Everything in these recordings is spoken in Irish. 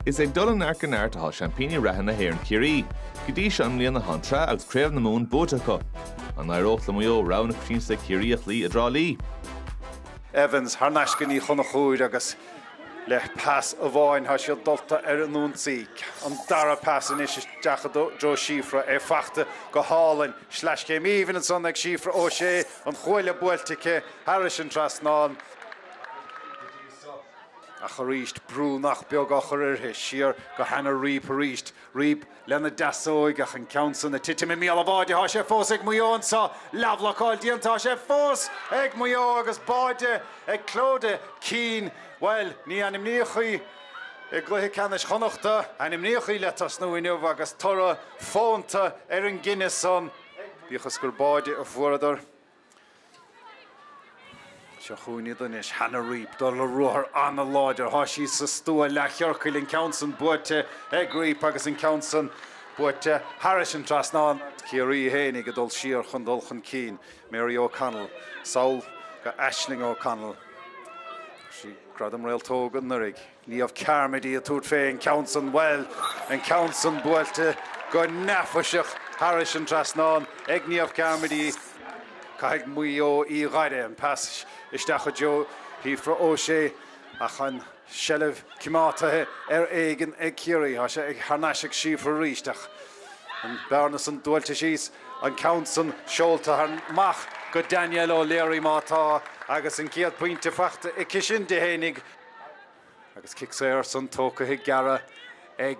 Is ag dul i neart go neart atá seaimpíní reatha na hÉireann Ciarraí. Go dtí seo i mbliana tá an tsraith agus craobh na Mumhan buaite acu. An n-éireodh le Maigh Eo rogha na coitiantachta Ciarraí a chloí i dTrá Lí? Evans thar n-ais go Ní Chonchúir agus le pas amháin tá siad dulta ar an ionsaí. An dara pas anois isteach i dtreo Síofra, é fachta go hálainn. Sleaschéim aoibhinn ansan ag Síofra O'Shea, an chuaille buailte aici thairis an trasnán. Ach arís brú nach beag á chur uirthi, siar go Hannah Reape arís, Reape lena deasóig, ach an ceann san ag titim i mbéal an bháide tá sé fós ag Maigh Eo anso, leathbhlocáil déanta tá sé fós ag Maigh Eo agus báide ag Clodagh Keane, bhuel, ní ainmníodh í i gcluiche ceannais Chonnachta, ainmníodh í le tosnú inniu agus toradh fónta ar an gcinneadh san, bíodh is gur báide a fuaireadar. Seo chugainn iad anois, Hannah Reape, ag dul ar ruathar an-láidir. Tá sí sa stua leathchiorcail, an ceann san buailte ag Reape agus an ceann san buailte thairis an trasnán. Ciarraí fhéinig ag dul siar chun dul chun cinn, Mary O'Connell, sall go Aisling O'Connell. Fuair sí Gradam Réaltóg anuraidh. Niamh Carmody ag tabhairt fé an ceann san, bhuel, an ceann san buailte go neafaiseach thairis an trasnán ag Niamh Carmody. Caithfidh Maigh Eo í a fhaire an pas isteach i dtreo Shíofra Ó Sé ach an tseilbh coimeádtaithe ar éigean ag Ciarraí. Tá sé thar n-ais ag Síofra arís ach an bearna san dúnta síos, an ceann san seolta amach go Danielle O'Leary má tá agus an chéad phointe fachta aici sin di fhéinig. Agus cic saor san tógtha gearra ag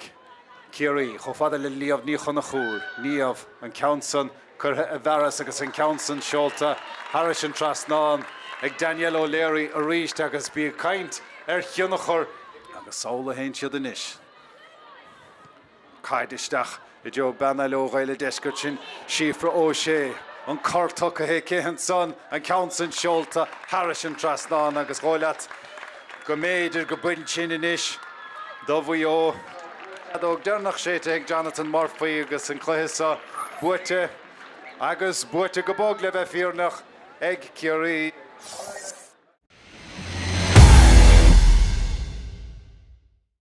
Ciarraí chomh fada le Niamh Ní Chonchúir, Niamh, an ceann san curtha i bhfearas agus an ceann san seolta thairis an trasnán ag Danielle O'Leary arís agus bí ag caint ar thionchar agus samhlaigh féin siad anois. Caid isteach i dtreo bean eile ó Ghaeil an Deiscirt sin Síofra O'Shea. An cor tugtha aici ansan, an ceann san seolta thairis an trasnán agus dhóigh leat go mb'fhéidir go b'shin sin anois do Mhaigh Eo. Feadóg deireanach séidte ag Jonathan Murphy agus an cluiche so buaite, agus buaite go bog, le bheith fírinneach, ag Ciarraí.